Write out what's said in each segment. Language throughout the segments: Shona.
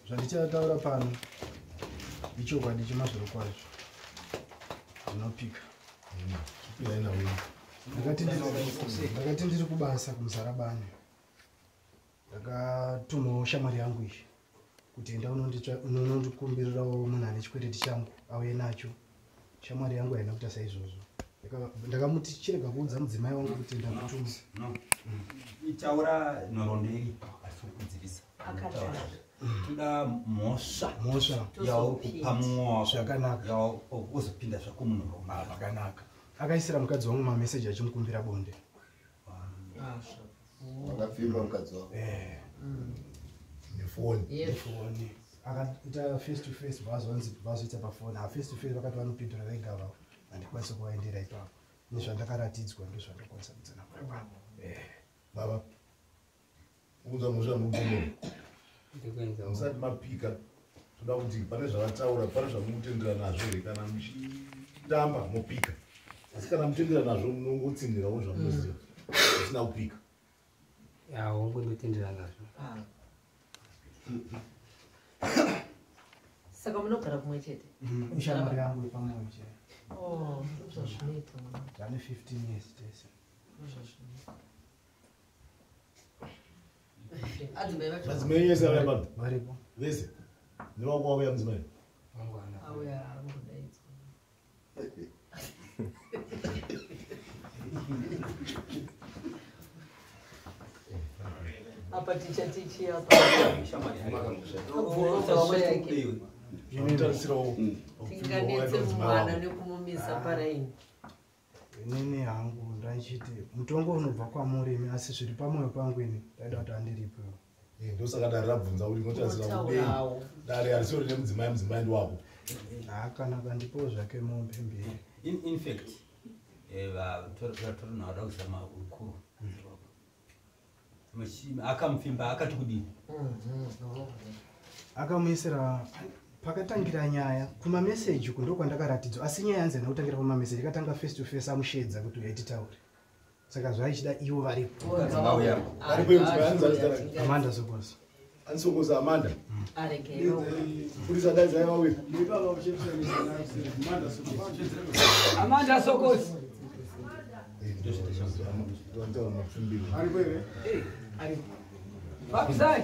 zvandichataura pano ichokwadi chemazviro kwazvo zvinopika ndakati ndiri kubasa kumuzarabani ndakatumawo shamwari yangu iyi kuti enda unondikumbirirawo munhu ane chikwereti changu auye nacho shamwari yangu haina kuita saizvozvo ndakamuti chirega kuudza mudzimai wangu kuti ndakutuma itaura nhoroondo iri atiri kudzivisa toda mhosva mhosva yauri kupa mwoa zvakanaka yaozopinda zvako munhoroondo zvakanaka akaisira mukadzi wangu mameseji achimukumbira bonde Vakapfimba mukadzi wako. Eh. Mm. Nefoni. Nefoni. Akaita face to face vazonzi vazoita pafoni. Ah, face to face vakati vanopindura vega vavo. Handikwanisa kuvaendera ipapo. Nezvandakaratidzwa ndozvandakwanisa kudzana kwavo. Eh. Baba. kuunza mhosva mugomo musati mapika toda kuti pane zvavataura pane zvamukutendera nazvo here kana muchitamba mopika asi kana mutendera nazvo munongotsinhirawo zvamunoziva mm. usina kupika yaongo ndotendera nazvo ah. saka munogara kumwe chete mm. shamwari yangu yepamwoyo chete oh, zvazvinoita zvane 15 years tese zvazvinoita madzimai yese avaya pano varipo vese nevako wauya mudzimai apa ticha tichi apa tinganetse mwana nekumumisa paraini inini hangu ndaichiti mutongo unobva kwamuri imi asi zviri pamwoyo pangu ini ndaida kuti andiripo eh, ndosaka dare rabvunza kuti inotarisira kudei dare arisiwo rine mudzimai mudzimai ndiwako hakana kandipowo zvake mombe mbiri infact eh, vatorinaoda kuzama ukuru akamufimba akati kudii akamuisira pakatangira nyaya kumameseji uku ndokwandakaratidzwa asi nyaya yanzi hana kutangira pamameseji akatanga face to face amushedza kuti uyai titaure saka zvaichida ivo varipoamanda sokoso Ansokoza Amanda. Arekeyo. Purisa dai zai vawe. Amanda Sokosi. Papi sai.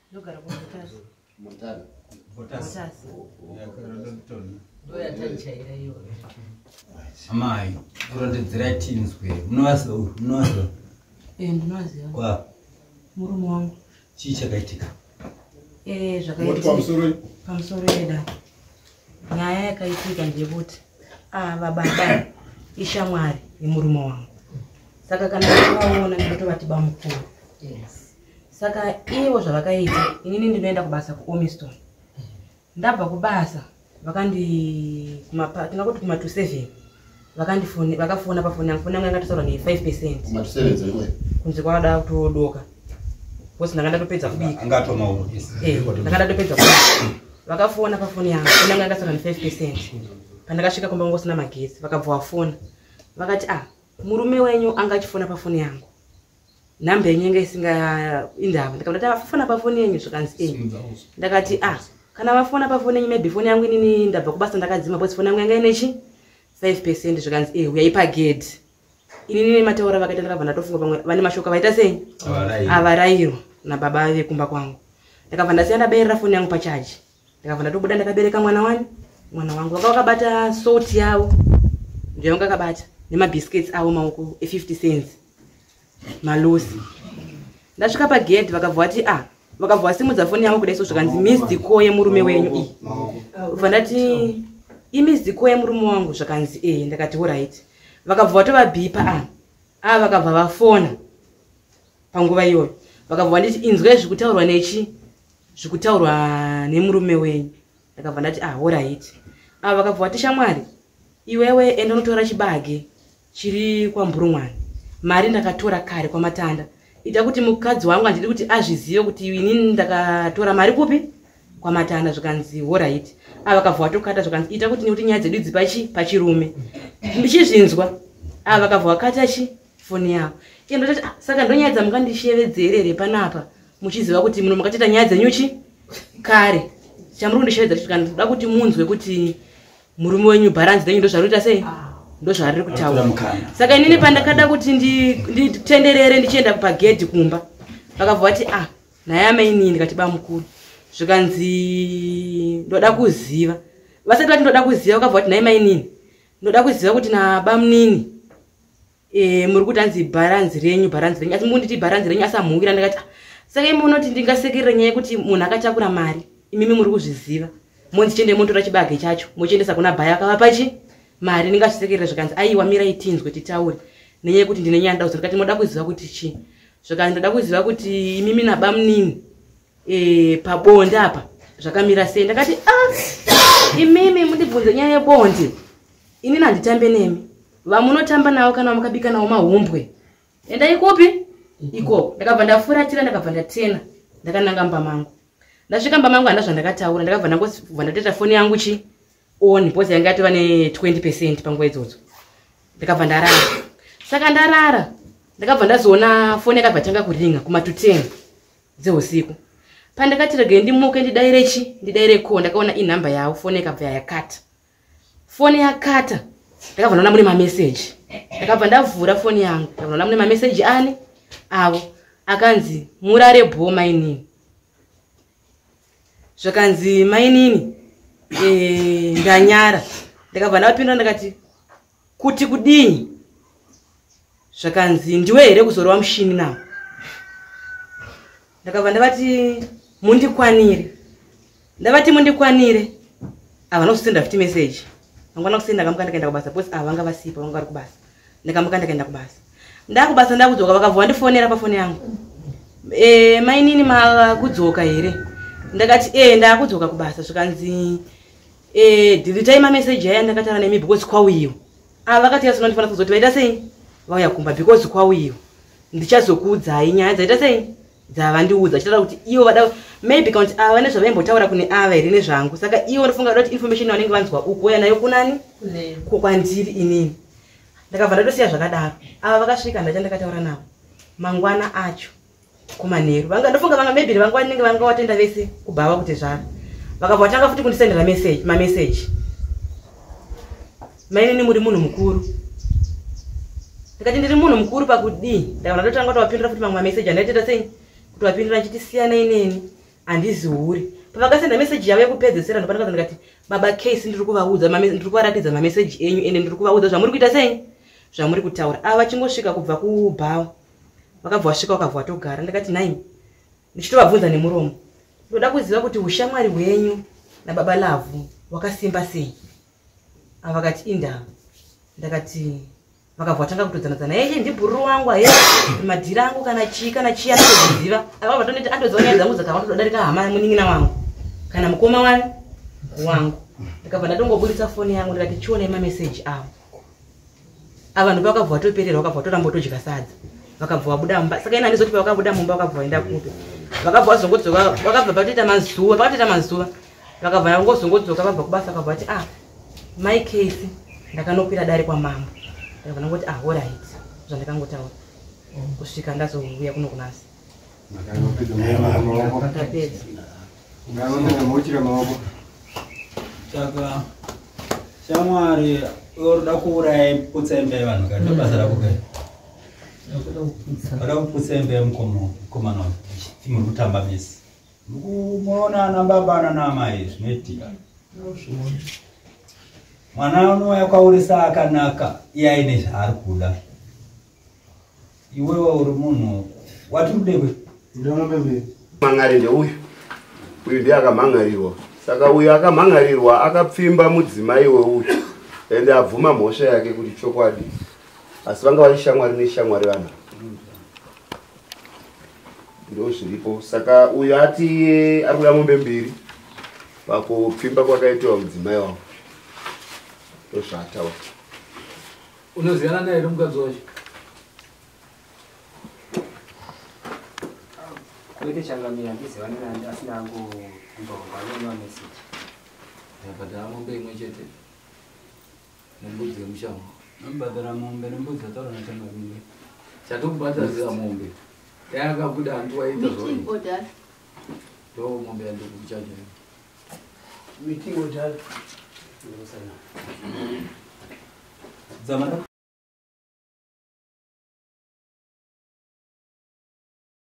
ndogara kumutasa mutasa mutasa ndoyataichaira iyoyo amai kurondedzera tinzwe munovaza munovaza eh ndinovaziva kwa murume wangu chii chakaitika eh zvakaitika pamusoro pamusoro yeda nyaya yakaitika ndeyekuti ah baba ishamwari yemurume wangu saka kana vaona ndinotovati bamukuru yes saka ivo zvavakaita inini ndinoenda kubasa kuomiston ndabva kubasa vakandi tinoda kuti kuma to seven vakandifoni vakafona pafoni yangu foni yangu yanga tosaura nefive percent kunze kwada kutodoka bcause ndanga ndatopedza kubika eh, ndanga ndatopedza kubika vakafona pafoni yangu foni yangu yanga tosaura nefive percent pandakasvika kumba kunge usina magetsi vakabva vafona vakati ah murume wenyu anga achifona pafoni yangu nhamba yenyu yanga isinga indava ndikabati afafona pafoni yenyu zvikanzi e ndakati a ah, kana vafona pafoni yenyu maybe foni yangu inini ndabva kubasa ndakadzima bcause foni yangu yanga inechi five percent zvikanzi e eh, uyai pagedhi inini nemataura vakaita ndakabva ndatofunga pamwe vane mashoko avaita sei avarairwa nababa vekumba kwangu ndakabva ndasiya ndabayirira foni yangu pachaji ndakabva ndatobuda ndakabereka mwana wani mwana wangu vaka vakabata salt yavo ndiyo vanga akabata nemabiscuits avo maoko e50 cents malosi ndasvika pagedhi vakabva vati a ah, vakabva vasimudza foni yavo kudai so zvikanzi misdco yemurume wenyu iyi ubva ndati imisdco yemurume wangu zvakanzi ee eh, ndakati orit vakabva vatovabipa a ah, a ah, vakabva vafona panguva iyoyo vakabva vanditi inzwai zvikutaurwa nechi zvikutaurwa nemurume wenyu ndakabva ndati ah orit ava vakabva vati shamwari iwewe enda unotora chibage chiri kwamburumwani mari ndakatora kare kwamatanda ita kuti mukadzi wangu handidi kuti azvizive kuti ini ndakatora mari kupi kwamatanda zvikanzi orit ava vakabva vatokata zvikanzi ita kuti nekuti nyaya dzedu idzi pachi pachirume ndichizvinzwa ava vakabva vakata chi foni yavo iye ndotati ah, saka ndonyaya dzamukandishevedzerere panapa muchiziva kuti muno makatita nyaya dzenyuchi kare chamuri kundishevedza kuti kana ndoda kuti munzwe kuti murume wenyu bharanzi dzenyu ndozvaroita sei ndozvariri kutaura saka inini pandakada kuti nditenderere ndichienda pagedhi kumba vakabva vati ah naye amainini ndikati bamukuru zvikanzi ndoda kuziva vasati vati ndoda kuziva vakabva vati naye mainini ndoda kuziva kuti nabamunini eh muri kuti anzi bharanzi renyu bharanzi renyu asi munditi bharanzi renyu asi amuwira ndakati ah, saka imi munoti ndingasekerera nyaya yekuti munhu akatakura mari imimi muri kuzviziva monzi chiende motora chibage chacho mochiendesa kuna bhaya akavapa chi mari ndingazvisekerera zvikanzi aiwa mirai tinzwe titaure nenyaya yekuti ndine nyaya ndauza ndikati moda kuziva kuti chii zvikanzi ndoda kuziva kuti imimi nabamunini e, pabonde apa zvakamira sei ndakati ah, imimi mundibvunze nyaya yebonde inini handitambe nemi vamunotamba navo kana vamakabika navo mahumbwe endai kupi ikoko ndakabva ndafuratira ndakabva ndatena ndakananga mba mangu ndasvika mba mangu handa zvandakataura ndakabva ndangobva ndatoita foni yangu chi on bcause yanga yatova ne20 percent panguva idzodzo ndakabva ndarara saka ndarara ndakabva ndazoona foni yakabva tanga kuringa kuma to ten dzeusiku pandakati regai ndimuke ndidaire chi ndidaire ko ndakaona inhamba yavo foni yakabva yayakata foni yakata ndakabva ndaona mune mameseji ndakabva ndavhura foni yangu ndakabva ndaona mune mameseji ani avo akanzi murare bho mainini zvakanzi mainini eh, ndanyara ndakabva ndavapindura ndakati kuti kudini zvakanzi ndiwe here kuzorova mushini nawo ndakabva ndavati mundikwanire ndavati mundikwanire ava nokuzosenda futi meseji angwana kusenda kamuka ndakaenda kubasa bcause ava vanga vasipa vanga vari kubasa ndakamuka ndakaenda kubasa ndakubasa ndakudzoka vakabva vandifonera pafoni yangu e, mainini makudzoka here ndakati e ndakudzoka kubasa zvikanzi Eh, dhiritai mameseji aya ndakatara nemi because kwauyiwa ava ah, vakati yasona ndifanira kuzoti vaita sei vauya kumba because kwauyiwa ndichazokuudzai nyaya dzaita sei dzavandiudza chitara kuti ivo vada maybe kakuti ava vane zvavaimbotaura kune ava here nezvangu saka ivo ndofunga vada kuti information yavanenge vanzwa uku uya nayo kunani kukwandiri inini ndakabva ndatosiya zvakadaro ava vakasvika ndacha ndakataura navo mangwana acho kumanheru vanga ndofunga vanga maybe vanga vanenge vanga watenda vese kubhava kuti zvaro vakabva vatanga futi kundisendera message mamessage mainini muri munhu mukuru ndikati ndiri munhu mukuru pakudii ndakana ndotanga kuti wapindura futi mamwe mamessage andaiteta sei kuti wapindura ndchiti siyana ineni handizi hure pavakasenda message yavo yekupedzesera ndopanakaza ndikati baba case ndiri kuvaudza ndiri kuvaratidza mamessage enyu ende ndiri kuvaudza zvamuri kuita sei zvamuri kutaura ava vachingosvika kubva kubhawa vakabva vasvika vakabva vatogara ndakati nai ndichitovabvunza nemuromo ndoda kuziva kuti ushamwari hwenyu nababa lavhu wakasimba sei ava vakati indaa ndakati vakabva vatanga kutodzanadzana yeye ndibhururu wangu aye madhiri angu kana chii kana chii anotoziva ava vatoneti andoziva nyaya dzangu dzakava totodarika hama yamunin'ina wangu kana mukoma wani wangu ndakabva ndatongoburitsa foni yangu ndikati chionai mameseji avo avanhu vakabva vatoperera vakabva vatoramba todya sadza vakabva vabuda mumba saka ina ndizoti pavakabuda mumba vakabva vaenda kupi vakabva vazongodzoka vakabva vatoita mazuva vakatoita mazuva vakabva nangozongodzoka vabva kubasa vakabva vati ah mai case ndakanokwira dare kwamambo vakabva nangoti ah orit zvandakangotaura kusvika ndazouya kuno kunasi tapedza ngaondenemuchire maoko saka shamwari oroda kuuraya putsa imba yevanhu ka ndo basa rako kai oda kuputsa imba yemukomana muri kutamba misi mukuona anababa ananamai zvinoitika mwana unouya kwauri saakanaka iye aine zvaari kuda iwewa uri munhu wati udewe mangari ndeuyu uyu ndiye akamhangarirwa saka uyu akamhangarirwa akapfimba mudzimai weuyu ende abvuma mhosva yake kuti chokwadi asi vanga vari shamwari neshamwari vanhu ndo zviripo saka uyu ati ari kuda mombe mbiri pakupfimba kwakaitiwa mudzimai wavo ndozvaataura Unoziyana naye ri mukadzi wacho. Kwete changamira ndiziva nani asina angu ndonga nona message. Ndabhadhara mombe imwe chete nembudzi yemushango. Ndabhadhara mombe nembudzi yataura na changamira. Chatokubhadhara mombe. Dai akabuda hanti waita zvoi. Ndoo mombe yandikuchaja. Meeting ojala. Ndosana. Zamara.